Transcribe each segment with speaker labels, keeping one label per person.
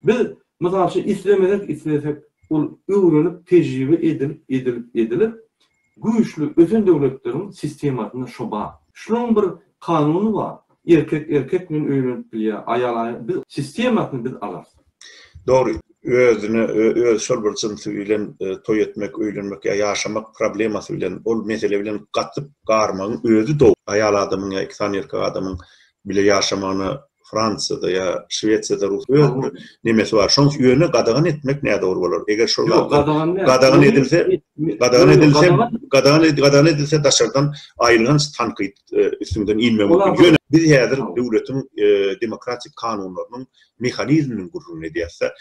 Speaker 1: Biz, mysal üçin, islemesek, islesek, ol öwrenip, tejribe edilip, edilip, edilip, güýçli ösen döwletleriň sistemasynda şo bar. Şunuň bir kanuny bar, erkek erkek bilen öýlenip bilýär, aýal aýal biz sistemasyny biz alarys. Dogry, özüne özi şol bir jynsy bilen toý etmek, öýlenmek ýa ýaşamak problemasy bilen, ol mesele bilen gatyp garmagyň özi dogry. Aýal adamyň ýa iki sany erkek adamyň bile ýaşamagyna Fransiýada ýa Şwesiýada rus öz bir nemesi bar. Şoň üçin ýöne gadagan etmek nädogry bolar. Eger şol Ýok, gadagan däl. Gadagan Ony- edilse, Me- gadagan Ýöne edilse, gadagan- gadagan ed- gadagan edilse daşardan aýylganç tankyt e, üstüňden inmegi Olar mümkin. bir- Ýöne biz häzir Tamam. döwletiň e, demokratik kanunlarynyň mehanizminiň gürrüňini edýäs-de.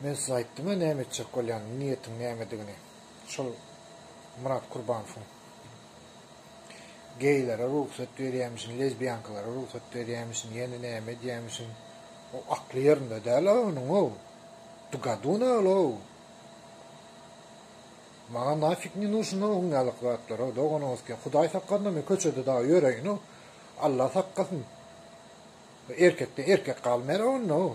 Speaker 1: Men size aýtdym-a näme etjek bolýanyny, niýetiň nämedigini. Şol Myrat Kurbanowyň geýlere rugsat berýämişin, lezbiýankalara rugsat berýämişin, ýene näme edýämişin, o akly ýerinde däl-ä onuň-ow! Du godu nol-ow! Maňa nafik ne nuşyna oň ýalyk zatlar-ow, doganyňyzky, Hudaý sakasyn-a men köçede dagy ýöreýin-ow, Alla sakasyn! Erkekden erkek galmaýar-a onda-ow!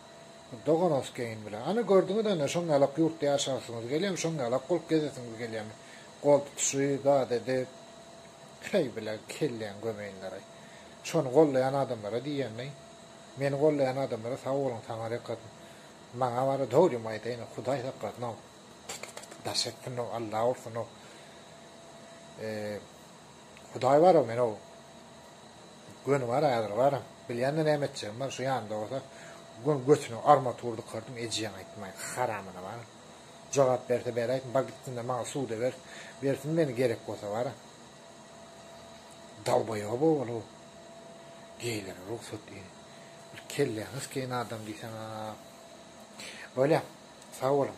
Speaker 1: Doganowskeýin bilen. Ana, gördüňiz ene, şoň ýalak ýurtda ýaşasyňyz gelýärmi, şoň ýalak bolup gezesiňiz gelýärmi? Gol tutuşy zat edip, heý, bile, kelläňi gömeýinler-aý. Şony gollaýan adamlara diýýän-leý. Meni gollaýan adamlara sag boluň, Taňary ýykasyn. Maňa bary dogrymy aýdaýyň-ow, Hudaý saklasyn-ow. Tyk-tyk-tyk-tyk daş etsin-ow, Alla ursun-ow. E. Hudaý bar-a, men-ow. Göni bar, häzir bar. Bilýän-de näme etjegim bar, şu ýanynda bolsa göni götüne armatur dykardyň, ejiýäň aýtmaý, haramyna bar. Jogap berse beräýsin, bar gitsin-de maňa suda ber, bersin meni gerek bolsa bar-a. Dalbaýob ogul-ow. Geýlere rugsat diýdi. Bir kelleňiz keýn adam diýseň-a. Bolýa, sag boluň.